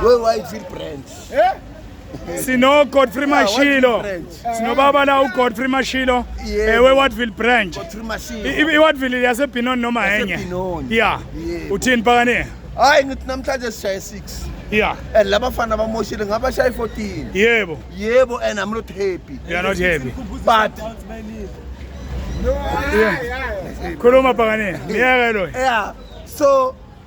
Wewe wayithi branch. Eh? Sino Godfrey Mashilo. Sino baba la u Godfrey Mashilo. Ewe eh, Watville branch. Godfrey Mashilo. I Watville yase Pinon noma enye. Yeah. Uthini phakane? Hayi ngithi namhlanje sishaye 6. Yeah. And laba fana bamoshile ngaba shaye 14. Yebo. Yebo and I'm not happy. You are not happy. But Khuluma phakane. Ngiyeke lo. Yeah. So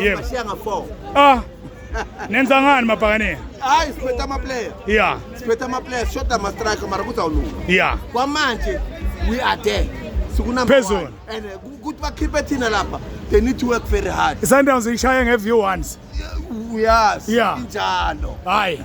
Yebo. Bashiya nga 4. Ah. Nenza ngani mabhakane? Hayi siphetha ama player. Yeah. Siphetha ama player, shoda ama striker mara kuzawulunga. Yeah. Kwamanje we are there. Sikunamba. Phezulu. And uh, ukuthi bakhiphe thina lapha, they need to work very hard. Sundowns ishaya nge view once. Yes. Yeah. Injalo. Hayi.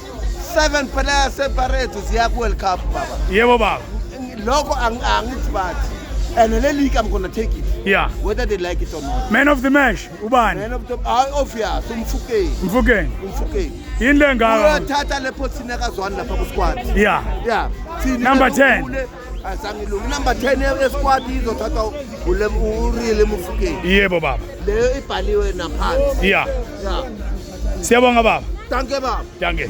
seven player separate ziya ku-world cup baba yebo baba lokho angithi bathi and le league i'm gonna take it yeah whether they like it or not man of the match ubani man of the ah obvious umfukeni umfukeni umfukeni yini le ngaka uyathatha le position yakazwani lapha ku squad yeah yeah number 10 asangilungi inumber 10 esquad izothathwa urile mufukeni yebo baba leyo ibhaliwe naphansi ya siyabonga baba danke baba danke